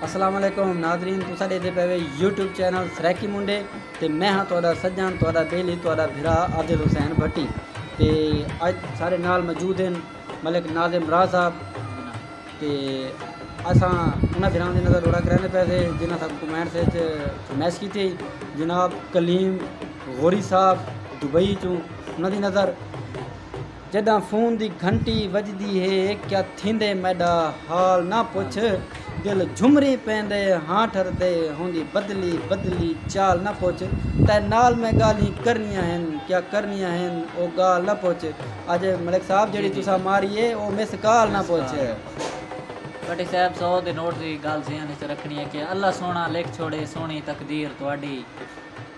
السلام علیکم ناظرین تساں ڈیکھدے پے وے یوٹیوب چینل سرائیکی منڈے تے میں ہاں تہاڈا سجن تہاڈا بیلی تہاڈا بھرا عادل حسین بھٹی تے اج سارے نال موجود ہیں ملک ناظم راہ صاحب تے اساں انہاں بھراواں دی نظر روڑا کریندے پے سے جنہاں ساکوں کمنٹس وچ فرمائش کیتی جناب کلیم غوری صاحب دبئی چوں انہاں دی نظر جݙاں فون دی گھنٹی وڄدی ہے کیا تھیندے میݙا حال نہ پچھ دل جھمری پیندے ہاں ٹھردے ہوندی بدلی بدلی چال نہ پچھ تیں نال میں ڳالھیں کرݨیاں ہن کیا کرݨیاں ہن او ڳال نہ پچھ اڄ ملک صاحب جیڑھی تساں ماری ہے او مس کال نہ پچھ۔ بھٹی صاحب سو دے نوٹ دی گالھ ذہن اچ رکھݨی ہے کہ اللہ سوہݨا لکھ چھوڑے سوہݨی تقدیر تہاݙی۔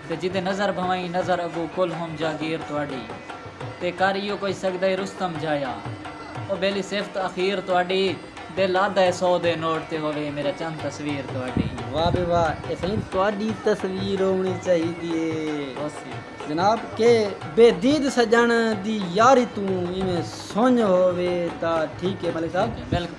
تے جیندے نظر بھوائیں نظر اگو کل ہم جاگیر تہاڈی تے کر ایہو کوئی سگدہ رستم جایا او بیلی صفت اخیر تہاڈی دل آدھا اے سو دے نوٹ تے ہووے میرا چند تصویر تہاڈی۔ واہ بے واہ اے سئیں تہاڈی تصویر ہوونڑی چاہیدی اے جناب کہ بے دید سجنڑ دی یاری توں ایویں سنج ہووے تاں ٹھیک اے ملک صاحب۔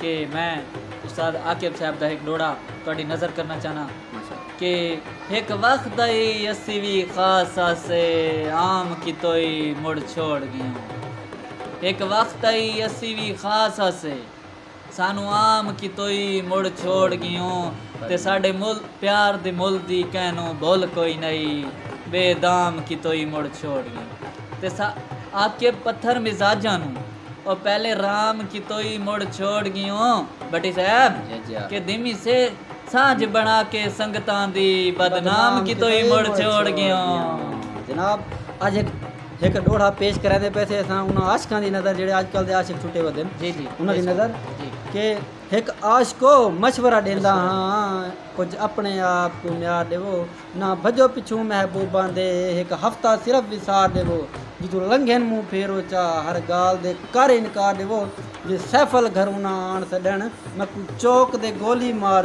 کہ میں استاد عاقب صاحب دا ہک ڈوہڑا تہاڈی نذر کرنا چاہناں کہ ہک وخت دا ای اسی وی خاص آسے عام کیتوئی مڑ چھوڑ گیوں ہک وخت دا ای اسی وی خاص آسے سانوں عام کیتوئی مڑ چھوڑ گیوں تے ساڈے مل پیار دے مل دی کہنوں بھل کوئی نئی بے دام کیتوئی مڑ چھوڑ گیوں تے سا عاقب پتھر مزاجاں نوں او پہلے رام کیتوئی مڑ چھوڑ گیوں بھٹی صاحب کہ دھیمی سے سانجھ بنا کے سنگتاں دی بدنام کیتوئی مڑ چھوڑ گیوں۔ جناب اج ایک ایک ڈوڑا پیش کریں دے پیسے اساں انہاں عاشقاں دی نظر جڑے اج کل دے عاشق چھٹے ودن جی جی انہاں دی نظر کہ ایک عاشقو مشورہ دیندا ہاں کچھ اپنے آپ کو میار دیو نہ بھجو پچھوں محبوباں دے ہک ہفتہ صرف وسار ݙیوو جتوں لنگھن منہ پھیرو چا ہر ڳالھ دے کر انکار ݙیوو جے سیف الگھرونہ آن سݙن میکوں چوک دے گولی مار